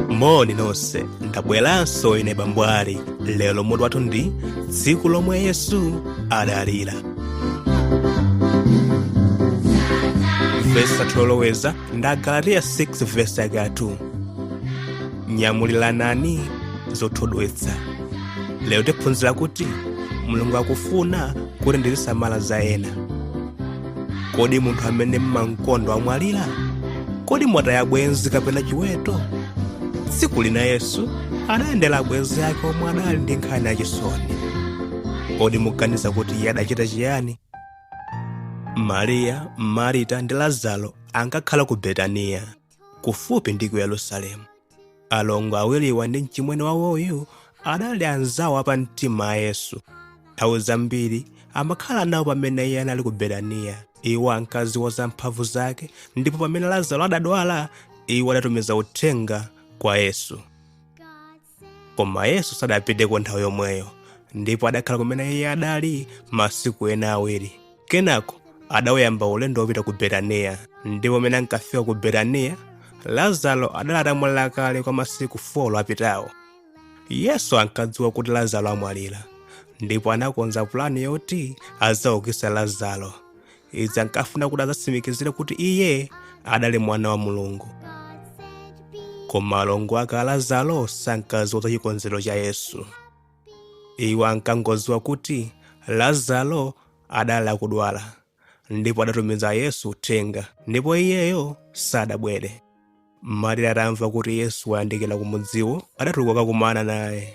moni nonse ndabweranso ine bambwali lero mutu wathu ndi tsiku lomwe yesu adalira vesi yoloweza ndi agalatiya 6 vesi yake 2 nyamuliranani zothodwetsa lero tiphunzira kuti mulungu akufuna kuti tizisamala za ena kodi munthu amene mmamkonda wamwalira kodi mwataya bwenzi kapena chiweto tsiku lina yesu adayendera abwenzi yake omwe adali ndi nkhani yachisoni kodi muganiza kuti iye adachita chiyani mariya marita ndi lazaro ankakhala ku betaniya kufupi ndi ku yerusalemu alongo awiriwa ndi mchimwene wawoyu adali anzawo apamtima a yesu nthawi zambiri amakhala nawo pamene iye anali ku betaniya iwo ankadziwa za mphamvu zake ndipo pamene lazaro adadwala iwo adatumiza uthenga kwa yesu koma yesu sadapiteko nthawi yomweyo ndipo adakhala kumene iye adali masiku ena awiri kenako adawuyamba ulendo wopita ku betaniya ndipo pamene ankafika ku betaniya lazaro adali atamwalira kale kwa masiku 4 apitawo yesu ankadziwa kuti lazaro amwalira ndipo anakonza pulani yoti adzaukitsa lazaro izi ankafuna kuti adzatsimikizire kuti iye adali mwana wa mulungu koma alongo ake a lazaro sankadziwa za chikonzero cha yesu iwo ankangodziwa kuti lazaro adali akudwala ndipo adatumiza yesu uthenga ndipo iyeyo sadabwere Marita atamva kuti Yesu wayandikira ku mudziwo, adatuluka kukumana naye.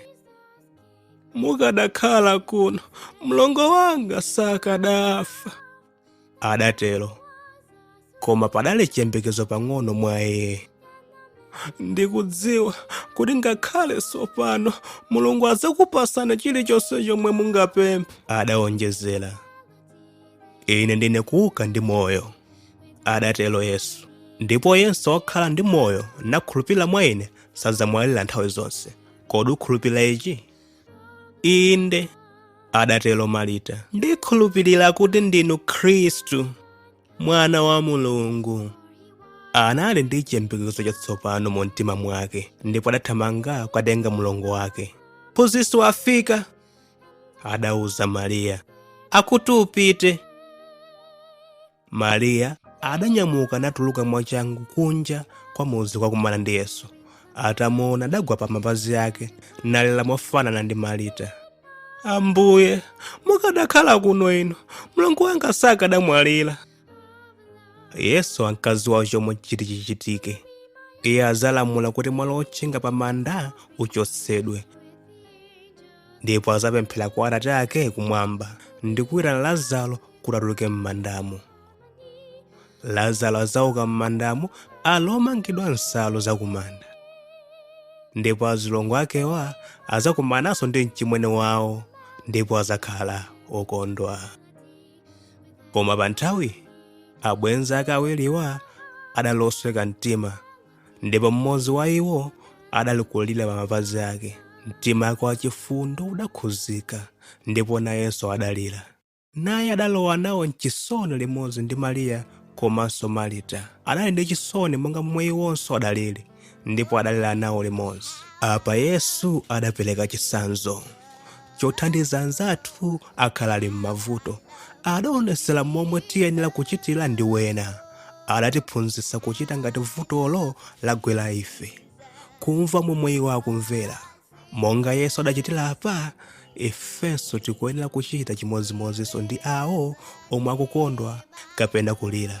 Mukadakhala kuno, mlongo wanga sakadafa, adatero. Koma padali chiyembekezo pang'ono mwa iye. Ndikudziwa kuti ngakhale tsopano Mulungu adzakupasani chilichonse chomwe mungapemphe, adaonjezera. ine ndine kuuka ndi moyo adatero yesu ndipo yense wokhala ndi moyo nakhulupirira mwa ine sadzamwalira nthawi zonse kodi ukhulupirira ichi inde adatero marita ndikhulupirira kuti ndinu khristu mwana wa mulungu anali ndi chiyembekezo chatsopano mu mtima mwake ndipo adathamanga kukatenga mlongo wake phunzitsi wafika adauza mariya akuti upite mariya adanyamuka natuluka mwachangu kunja kwa mudzi kukakumana ndi yesu atamuona adagwa pa mapazi ake nalira mofanana ndi marita ambuye mukadakhala kuno inu mlongo wanga sakadamwalira yesu ankadziwa chomwe chiti chichitike iye adzalamula kuti mwala wotchinga pa manda uchotsedwe ndipo adzapemphera kwa atate ake kumwamba ndi kuitana lazaro kuti atuluke m'mandamo lazaro adzauka m'mandamo ali omangidwa nsalu zakumanda ndipo azilongo akewa adzakumananso ndi mchimwene wawo ndipo adzakhala okondwa koma pa nthawi abwenzi ake awiriwa adalosweka mtima ndipo mmodzi wa iwo adali kulira pa mapazi ake mtima wake wachifundo udakhuzika ndipo nayenso adalira naye adalowa nawo mchisoni limodzi ndi mariya komanso marita adali ndi chisoni monga momwe iwonso adalili ndipo adalira nawo limodzi apa yesu adapereka chitsanzo chothandiza anzathu akhala ali m'mavuto adaonetsera momwe tiyenera kuchitira ndi wena adatiphunzitsa kuchita ngati vutolo lagwera ife kumva momwe iwo akumvera monga yesu adachitira apa ifenso tikuyenera kuchita chimodzimodzinso ndi awo omwe akukondwa kapena kulira